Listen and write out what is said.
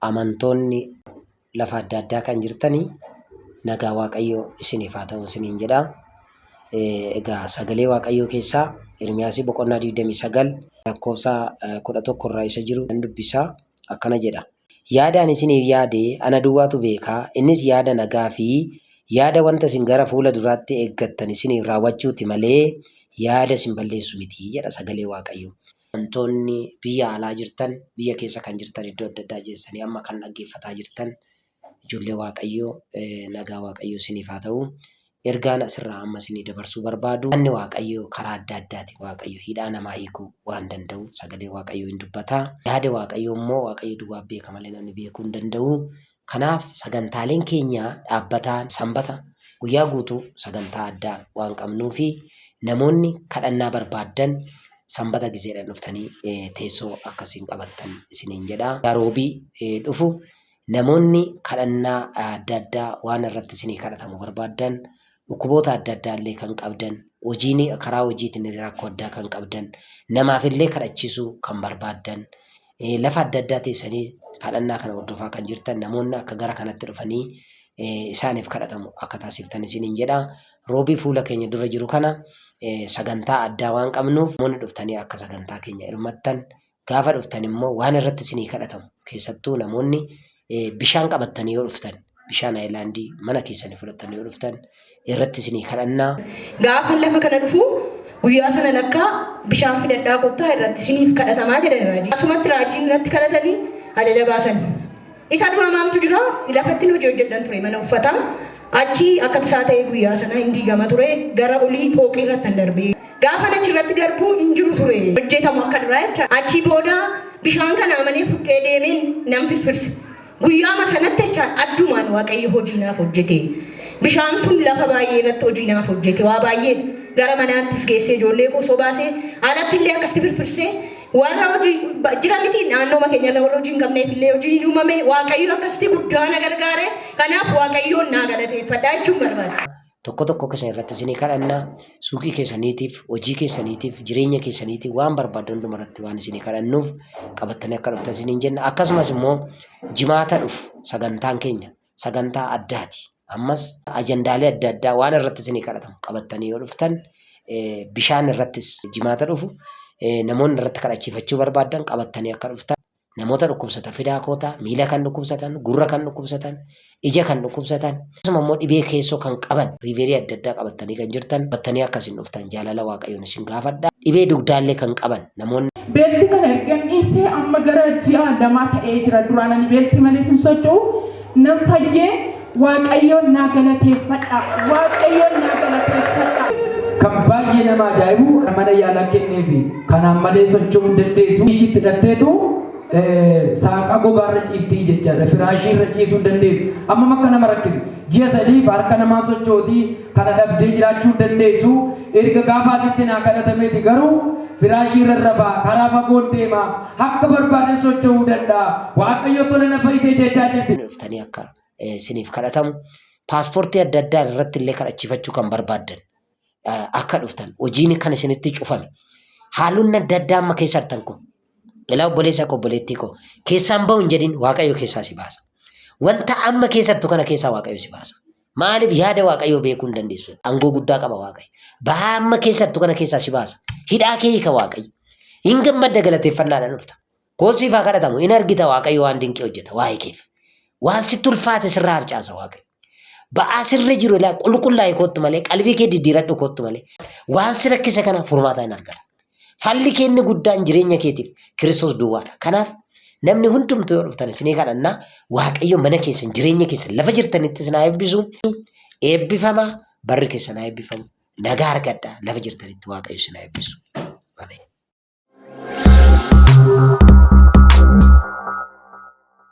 amantoonni lafa adda addaa kan jirtanii nagaa waaqayyoo isiniif haa ta'u isiniin jedha. Egaa sagalee waaqayyoo keessaa Ermiyaasii boqonnaa 29 lakkoofsa 11 irraa isa jiru nan dubbisaa akkana jedha. Yaada ani isiniif yaade ana duwwaatu beeka, innis yaada nagaa fi yaada wanta isin gara fuula duraatti eeggattan isiniif raawwachuuti malee yaada isin balleessu miti jedha sagalee Waaqayyoo. Amantoonni biyya alaa jirtan, biyya keessa kan jirtan iddoo adda addaa jeessanii amma kan dhaggeeffataa jirtan ijoollee Waaqayyoo nagaa Waaqayyoo isiniif haa ta'u. Ergaan asirraa amma isinii dabarsuu barbaadu yaadni Waaqayyoo karaa adda addaati Waaqayyo hidhaa namaa hiikuu waan danda'uuf sagalee Waaqayyoo in dubbata. Yaada Waaqayyoo immoo Waaqayyo duwwaa beeka malee namni beekuu hin danda'u. Kanaaf sagantaaleen keenya dhaabbataan sanbata guyyaa guutuu sagantaa addaa waan qabnuu fi namoonni kadhannaa barbaaddan sanbata gizeedhaan dhuftanii teessoo akka isin qabattan isiniin jedha. Guyyaa roobii dhufu Namoonni kadhannaa adda addaa waan irratti isinii kadhatamu barbaaddan, dhukkuboota adda addaa illee kan qabdan, hojiin karaa hojiitiin illee rakkoo addaa kan qabdan, namaaf illee kadhachiisuu kan barbaaddan, eh, lafa adda addaa teessanii kadhannaa kana hordofaa kan jirtan namoonni akka gara kanatti dhufanii eh, isaaniif kadhatamu akka taasiftan isiniin jedha. Roobii fuula keenya dura jiru kana eh, sagantaa addaa waan qabnuuf namoonni dhuftanii akka sagantaa keenya hirmattan Gaafa dhuftan immoo waan irratti isinii kadhatamu keessattuu namoonni bishaan qabattanii yoo dhuftan bishaan ayilaandii mana keessanii fudhattan yoo dhuftan irratti isinii kadhannaa. Gaafa lafa kana dhufu guyyaa sana lakkaa bishaan fidadhaa kottaa irratti isiniif kadhatamaa jedhan raajii. Asumatti raajiin irratti kadhatanii ajaja baasan. Isa dura maaltu jira? Lafattin hojii hojjedhan ture mana uffataa. Achi akka tasaa ta'ee guyyaa sana hin diigama ture. Gara olii fooqii irrattan darbe. Gaafan achi irratti darbu hin jiru ture. Hojjetamu akka duraa jechaadha. Achii booda bishaan kana amanee fudhee deemeen nan firfirse. Guyyaama sanatti jechaadha addumaan Waaqayyo hojii naaf hojjete. Bishaan sun lafa baay'ee irratti hojii naaf hojjete. Waa baay'eedha. Gara manaattis geessee ijoollee koo osoo baasee alatti illee akkasitti firfirsee Warra hojii ba- jira miti naannooma keenya irra warra hojii hin qabneef illee hojii hin uumame waaqayyo akkasitti guddaa na gargaare kanaaf waaqayyoon naa galateeffadha jechuun barbaada. tokko tokko keessan irratti isinii kadhanna suuqii keessaniitiif hojii keessaniitiif jireenya keessaniitiif waan barbaaddu hunduma irratti waan isinii kadhannuuf qabattanii akka dhuftan isiniin jenna akkasumas immoo jimaata dhufu sagantaan keenya sagantaa addaati. Ammas ajandaalee adda addaa waan irratti isinii kadhatamu qabattanii yoo dhuftan bishaan irrattis jimaata dhufu namoonni irratti kadhachiifachuu barbaadan qabattanii akka dhuftan namoota dhukkubsatan fidaa kootaa miila kan dhukkubsatan gurra kan dhukkubsatan ija kan dhukkubsatan akkasuma immoo dhibee keessoo kan qaban riiveerii adda addaa qabattanii kan jirtan battanii akka isin dhuftan jaalala waaqayyoon isin gaafadha dhibee dugdaallee kan qaban Namoonni. Beelti kana ergan dhiisee amma gara ji'a lamaa ta'ee jira. Duraan ani beelti malees hin socho'u. Nan fayyee Waaqayyoon naa galateeffadha. Waaqayyoon naa galateeffadha. Kan baay'ee nama ajaa'ibu mana yaalaa kenneefi. Kanaan malee socho'uu hin dandeessu. Ishiitti hidhatteetu saaqaa gogaarra ciiftii jechaadha. Firaashii irra ciisuu hin dandeessu. Ammam akka nama rakkisu. Ji'a sadiif harka namaa sochootii Kana dhabdee jiraachuu hin dandeessu. Erga gaafa asitti naa kadhatameeti garuu firaashii irran rafa, karaa fagoon deema, akka barbaaden socho'uu danda'a. Waaqayyo tola na fayyise jechaa jirti. dhuftanii akka isiniif kadhatamu paaspoortii adda addaa irratti illee kadhachiifachuu kan barbaaddan akka dhuftan hojiin kan isinitti cufame haalonni adda addaa amma keessa jirtan kun ilaa obboleessa koo obboleettii koo keessaan ba'u hin jedhin waaqayyo keessaa si baasa wanta amma keessa jirtu kana keessaa waaqayyo si baasa Maaliif yaada Waaqayyoo beekuu hin dandeessu? Angoo guddaa qaba Waaqayyo. Bahaa amma keessattu kana keessaa si baasa. Hidhaa kee hiika Waaqayyo. Hin gammadda galateeffannaadhaan dhufta. Koon siif haa kadhatamu. Hin argita Waaqayyo waan dinqii hojjeta waa'ee keef. Waan sitti ulfaate sirraa harcaasa Waaqayyo. Ba'aa sirra jiru ilaa qulqullaa'e koottu malee qalbii kee diddiiradhu koottu malee waan si rakkise kana furmaata hin argata. Falli kee inni guddaan jireenya keetiif Kiristoos duwwaadha. Kanaaf namni hundumtuu yoo dhuftan isinii kadhannaa Waaqayyo mana keessan jireenya keessan lafa jirtanitti isin haa eebbisu. Eebbifama barri keessan haa eebbifamu. Nagaa argadha lafa jirtanitti Waaqayyo isin haa eebbisu. Ameen.